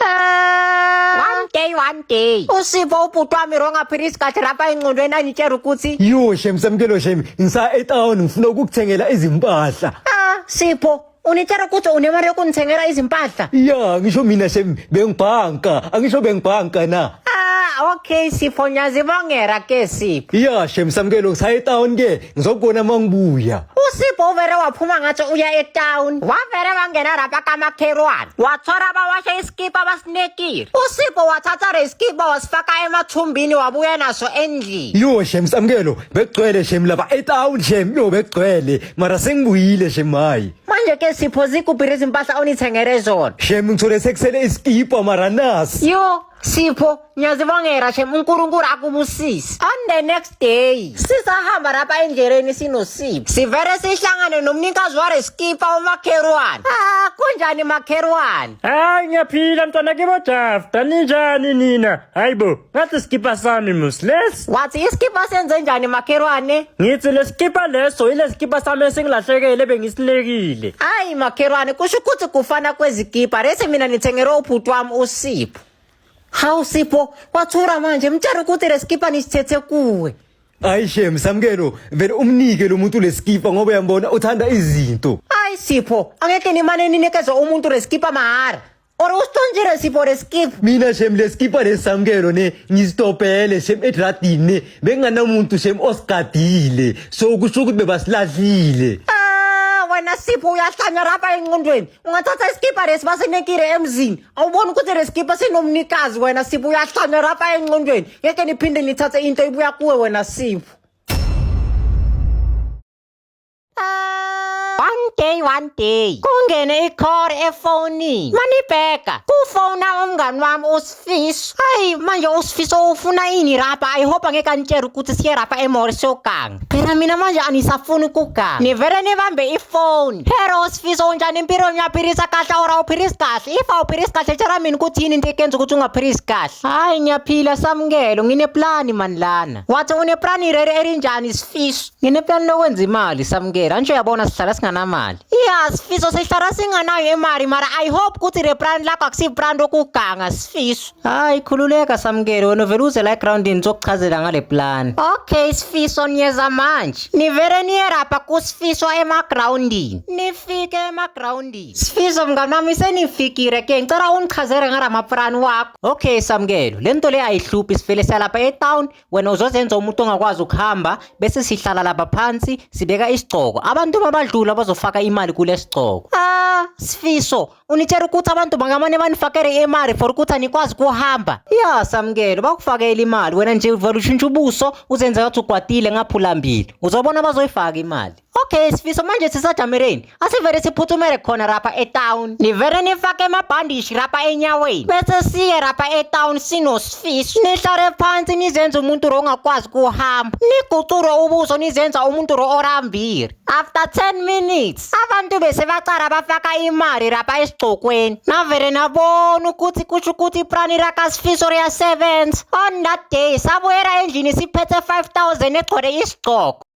one day one day usivo ubhuti wami wrong aphila isikhathi lapha engcondweni angitshela ukuthi yo shem samkelo shem ngisa etown ngifuna ukukuthengela izimpahla ah sipho unitshela ukuthi unemali yokunithengela izimpahla ya ngisho mina shem bengibhanka angisho bengibhanka na ah okay sipho ngiyazibongera ke sipho ya shem samkelo ngisa etown ke ngizokubona uma ngibuya usipho uvere waphuma ngathi uya etown wavere wangena rapa kamakherwane wathora bawasha isikipa basinekile usipho wathatha resikipa wasifaka emathumbini wabuya naso endlini yo shem samkelo bekugcwele shem laba etown shem yo bekugcwele mara sengibuyile shem hayi manje ke sipho zikuphi izimpahla onithengele zona shem ngithole sekusele isikipa mara nasi yo Sipho, ngiyazibongela shem uNkulunkulu akubusise. On the next day, sisahamba lapha endleleni sinosipho. Sivele sihlangane nomnikazi wale skipa umakherwane. Ah, kunjani makherwane? Hayi ngiyaphila mntwana kibo Jafta ninjani nina? Hayibo, ngathi skipa sami mus lesi. Wathi iskipa senze njani makherwane? Ngithi lesikipa leso ile sikipa sami esingilahlekele bengisilekile. Hayi makherwane, kusho ukuthi kufana kwezikipa. Lesi mina ngithengelwe ubhuti wami uSipho. Sipho. Hawu Sipho, wathura manje mtshela ukuthi lesikipa nisithethe kuwe. Hayi shem samkelo vele umnike lo muntu lesikipa ngoba uyambona uthanda izinto. Hayi Sipho, angeke nimane ninikeze umuntu lesikipa mahara. Or usithonjile Sipho lesikipa. Mina shem lesikipa lesamkelo ne ngistopele shem edradini ne benganamuntu shem osigadile. So kusho ukuthi bebasilahlile. Ah, wena Sipho uyahlanya lapha enqondweni. ungathatha isikibha lesi basinekile emzini awuboni ukuthi le sikibha sinomnikazi wena sipho uyahlanya rapa enqondweni ngeke niphinde nithathe into ibuya kuwe wena sipho one day one day kungene ikhore efonini manibheka kufona umngani wami Fis, ay, manje usifisa ufuna ini rapa? I hope angeke anitshele ukuthi siye rapa emori sogang. Phela mina manje anisafuni ukugang. Nivele nibambe ifoni. Hero usifisa unjani impilo ngiyaphilisa kahle or awuphilisi kahle? If awuphilisi kahle tshela mina ukuthi yini into ekenza ukuthi ungaphilisi kahle. Hayi ngiyaphila samukelo, ngineplani mani lana. Wathi uneplani rere elinjani sifiso? Ngineplani lokwenza imali samukela nje uyabona sihlala singanamali. Yeah sifiso sihlala singanayo imali mara I hope ukuthi le brand lakho akusi brand okuganga sifiso. Hayi khululeka samukele wena vele uze la ground nizokuchazela ngale plan. Okay sifiso niyeza manje. Nivele niyerapha kusifiso ema groundini. Nifike ema groundini. Sifiso mngani wami senifikile ke ngicela ungichazele ngala maplan wakho. Okay samukelo lento le ayihluphi sivele salapha e town wena uzozenza umuntu ongakwazi ukuhamba bese sihlala lapha phansi sibeka isigcoko abantu babadlula bazofaka imali kule sigcoko ah sifiso unitshela ukuthi abantu bangamane banifakele imali for ukuthi anikwazi kuhamba ya samkelo bakufakele imali wena nje uvela ushintsha ubuso uzenza ukuthi ugwadile ngaphulambili uzobona bazoyifaka imali Okay sifiso manje sisajamereni asivele siphuthumele khona rapha etown nivele nifake amabhandishi rapha enyaweni bese siye rapha etown sinosifiso nihlale phansi nizenze umuntu ro ongakwazi kuhamba nigucure ubuso nizenza umuntu ro orambile after 10 minutes abantu bese bacala bafaka imali rapha esigcokweni navele nabona ukuthi kusho ukuthi iprani rakasifiso riyasebenza on that day sabuyela endlini siphethe 5000 egcwele isigcoko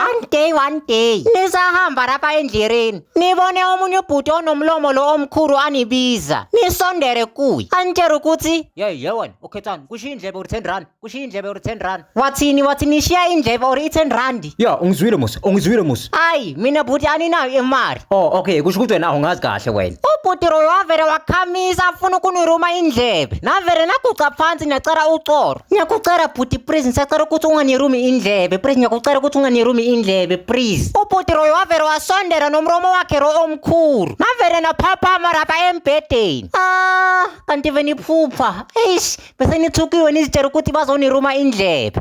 one day one day nisahamba lapha endleleni nibone omunye ubhuti onomlomo lo omkhulu anibiza nisondere kuye anitshela ukuthi yeyi yewena ukhethani kushiya indlebe or ten rand kushiya indlebe or ten rand wathini wathi nishiya indlebe or i-ten rand ya ungizwile musa ungizwile musa ayi mina bhuti aninayo imali oh okay kusho ukuthi wena awungazi kahle wena ubhuti loyo wavele wakhamisa afuna ukuniruma indlebe navele naguca phansi ngiyacela uxolo ngiyakucela bhuti please ngisacela ukuthi unganirumi indlebe please ngiyakucela ukuthi unganirumi indlebe please ubhuti loyo wavele wasondela nomromo wakhe lo omkhulu navele naphaphama lapha embhedeni ah kanti veniphupha eish bese nithukiwe nizitshela ukuthi bazoniruma indlebe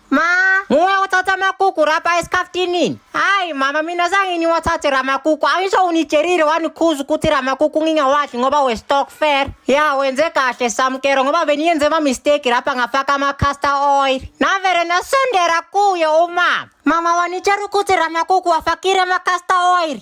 Ma, muwe wathatha amakuku rapa esikhaftini. Hayi mama mina zange niwathathe ramakuku. Angisho unitshelile wanikhuza ukuthi ramakuku ngingawadli ngoba we stock fair. Ya wenze kahle samkero ngoba beniyenze ama mistake rapa ngafaka ama castor oil. Navere nasondera kuye umama. Mama wanitshela ukuthi ramakuku wafakile ama castor oil.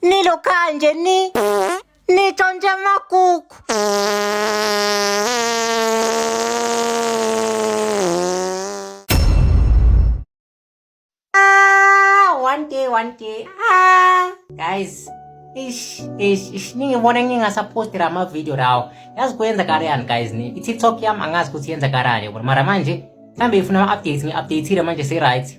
Ni lo kanje ni ni tonje makuku. Ah, one day, one day. Ah, guys. Ish, ish, ish. Ningibona ngingasaphosti la mavidiyo lawo. Yazi kuyenza kariyani guys ni. I-TikTok yami angazi ukuthi yenza kariyani yabona. Mara manje mhlambe ifuna ama-updates ngi-updatile manje se-right.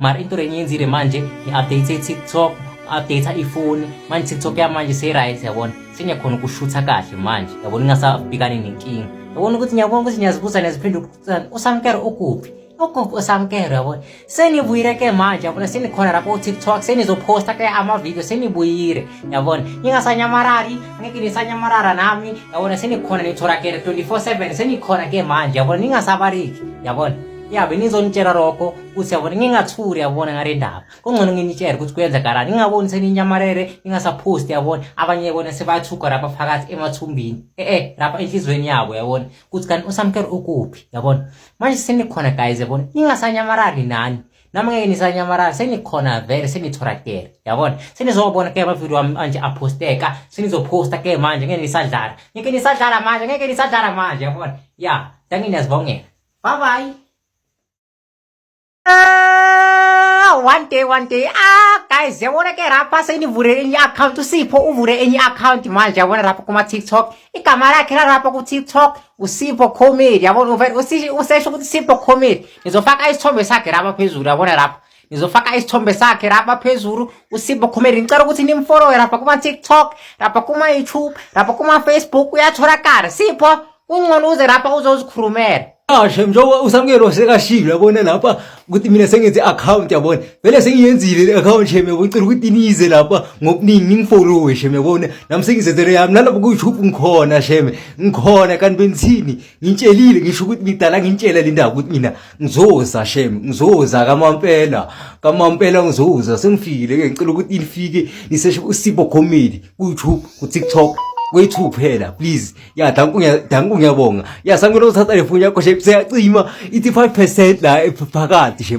mara into renye yenzile manje ngi-update tiktok update ifoni manje tiktok yamanje seyi-right yabona sengiyakhona ukushutha kahle manje yabona ingasabhekani nenkinga yabona ukuthi ngiyabona ukuthi ngiyazibuza neziphinde ukuthani usamkero ukuphi ukuphi usamkero yabona senibuyile ke manje yabona senikhona lapho utiktok senizophosta ke amavidiyo senibuyile yabona ningasanyamarari angeke nisanyamarara nami yabona senikhona nithola ke 24 7 senikhona ke manje yabona ningasabariki yabona ya benizonitshela lokho ukuthi yabona ngingathuri yabona ngale ndaba kungcono nginitshele ukuthi kuyenzakalani ngingaboni seninyamalele ningasaphosti yabona abanye yabona sebathuka lapha phakathi emathumbini e-e lapha enhliziyweni yabo yabona ukuthi kanti usamkelo ukuphi yabona manje senikhona guys yabona ningasanyamalali nani nami ngeke nisanyamalala senikhona vele senithorakele yabona senizobona ke amavidiyo wami anje aphosteka senizophosta ke manje ngeke nisadlala ngeke nisadlala manje ngeke nisadlala manje yabona ya danginiyazibongela Bye bye. Ah, one day one day ah guys yabona ke rapha senivule enye account usipho uvule enye account manje yabona rapha kuma TikTok igama lakhe la rapha ku TikTok usipho comedy yabona uvele usisho ukuthi sipho comedy nizofaka isithombe sakhe rapha phezulu yabona rapha ngizofaka isithombe sakhe lapha phezulu usimbo khumeli ngicela ukuthi nimfolowe lapha kuma-tiktok lapha kuma-youtube lapha kuma-facebook uyatholakala sipho kungcono uze lapha uzozikhulumela ashe njengoba usamukelo sekashilo yabona lapha ukuthi mina sengenze i-akhawunti yabona vele sengiyenzile le akhawunti shem yabona cela ukuthi nize lapha ngokuningi ningifolowe shem yabona nami sengizenzele yami nalapho ku-youtube ngikhona shem ngikhona kanti bengithini ngitshelile ngisho ukuthi ngidala ngintshela le ndaba ukuthi mina ngizoza shem ngizoza kamampela kamampela ngizoza sengifikile ke ngicela ukuthi ilifike niseshe usibo comedy ku-youtube ku-tiktok kwethu kuphela please ya danku danku ngiyabonga ya sangena uthatha le foni yakho she seyacima ithi 5% la ephakathi she